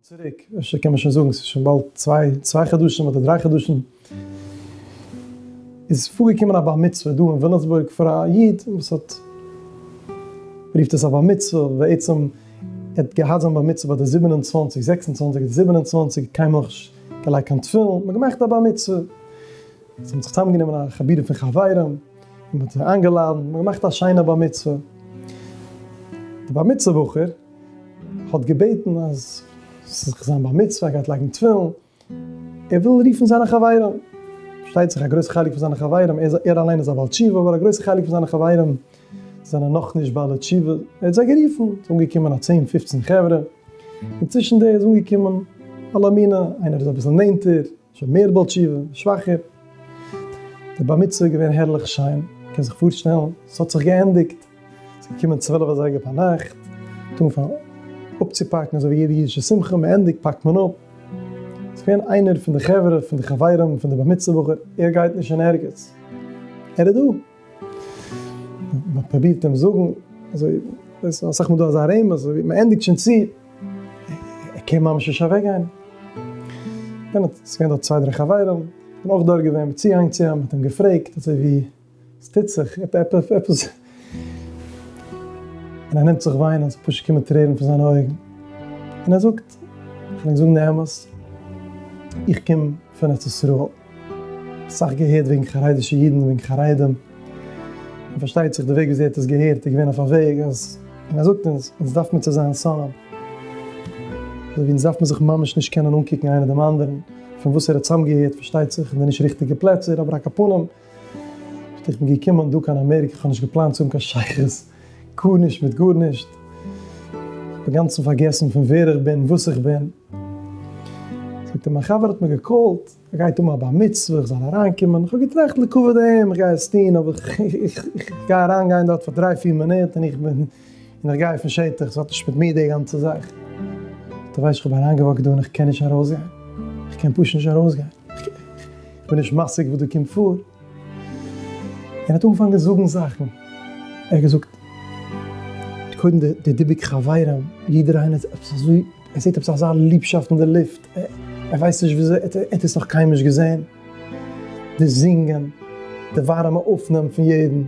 צוריק, אפשר קען מען שוין זאגן, ס'איז שוין באלד צוויי חדשים אדער דריי חדשים, איז פארגעקומען א בר מצוה דא אין וויליאמסבורג פאר א איד וואס האט, מ'רופט עס א בר מצוה, בעצם ער האט געהאט זיין בר מצוה ביי די זיבן און צוואַנציק, זעקס און צוואַנציק אדער זיבן און צוואַנציק, קיינמאל נישט געלייגט קיין תפילין, מ'האט געמאכט א בר מצוה, זיי האבן זיך צוזאמגענומען א חבורה פון חברים, מ'האט זיי איינגעלאדענט, מ'האט געמאכט א שיינע בר מצוה, די בר מצוה בחור, האט געבעטן אז ס'זאל זיך זיין בר מצוה, ער גייט לייגן תפילין, ער וויל רופן זיינע חברים, פארשטייט זיך א גרויסע חלק פון זיינע חברים, ער אליין איז א בעל תשובה, אבער א גרויסע חלק פון זיינע חברים זענען נאכנישט בעלי תשובה, ער האט זיי גערופן, ס'איז אנגעקומען א צען פופצן חברה, און צווישן די איז אנגעקומען אלא מינא, איינער איז אביסל נענטער, שוין מער בעל תשובה, שוואכער. די בר מצוה איז געווען הערליך שיין, מען קען זיך פארשטעלן, עס האט זיך געענדיגט, עס איז געקומען צוועלף אזייגער פארנאכט, מען האט אנגעפאנגען אפצופאקן אזוי ווי יעדע אידישע שמחה, מען ענדיגט פאקט מען אפ, עס איז געווען איינער פון די חברה, פון די חברים פון די בר מצוה בחור, ער גייט נישט אין ערגעץ, ער איז דא. מען פרובירט אים זאגן, אזוי איז אסאך מאל דא אזא רמז, אזוי מען ענדיגט שוין צו, ער קען ממש נישט אוועק גיין, און עס איז געווען דארט צוויי דריי חברים, און אויך דארט געווען מיט צוהענג צו אים, מען האט אים געפרעגט אזוי ווי עס טוט זיך, עפעס, און ער נעמט זיך וויינען, עס פשוט קומען טרערן פון זיינע אויגן, און ער זאגט, איך וויל ענק זאגן די אמת, איך קום פון ארץ ישראל. אסאך געהערט וועגן חרדישע אידן וועגן חרדים, און פארשטייט זיך די וועג וויאזוי ער האט עס געהערט איז געווען אויף א וועג אז, און ער זאגט אונז, אונז דארף מיר צו זיין סאמען, אזוי ווי אונז דארף מען זיך ממש נישט קענען אנקוקן איינער דעם אנדערן, פון וואס ער האט צוזאמגעהערט פארשטייט זיך אין די נישט ריכטיגע פלעצער, אבער א קאפנים, איך בין געקומען דא קיין אמעריקע, איך האב נישט געפלאנט צו האבן קיין שייכות. גארנישט מיט גארנישט, אינגאנצן פארגעסן פון ווער איך בין, וואס איך בין. זאגט ער, מיין חבר האט מיר געקאלט, ער גייט האבן א בר מצוה, איך זאל אריינקומען, איך האב געטראכט לכבוד אים, איך גיי עס טון, אבער איך גיי אריין גיין דארט פאר דריי פיר מינוט, און איך בין, און איך גיי פון שטח, עס האט נישט מיט מיר די גאנצע זאך. דו ווייסט איך האב אריינגעוואקט דא און איך קען נישט ארויסגיין, איך קען פשוט נישט ארויסגיין, איך בין נישט משיג וואס דא קומט פאר. ער האט אנגעפאנגען זאגן זאכן, ער האט געזאגט קודם די דיבוק חברים, יעדער איינער האט עפעס אזוי, ער זעט עפעס אזא ליבשאפט אין די לופט, ער ווייסט נישט וויאזוי, ער האט עס נאך קיינמאל נישט געזען, די זינגען, די ווארימע אויפנאם פון יעדן,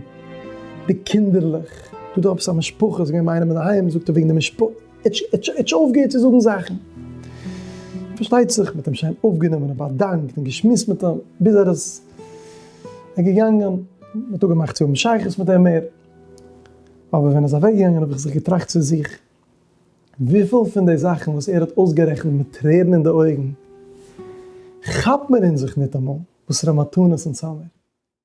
די קינדערלעך, דא איז דא עפעס א משפחה, זיי גייען ביינעם אינדערהיים, זאגט ער וועגן די משפחה. עטש אויפגעהערט צו זאגן זאכן, פארשטייט זיך מ'האט אים שיין אויפגענומען און באדאנקט און געשמועסט מיט אים ביז ער איז געגאנגען, מ'האט אפגעמאכט צו האבן שייכות מיט אים מער, אבער ווען ער איז אוועקגעגאנגען האב איך זיך געטראכט צו זיך, וויפיל פון די זאכן וואס ער האט אויסגערעכנט מיט טרערן אין די אויגן, כאפט מען אין זיך ניטאמאל וואסערע מתנות אונז האמיר.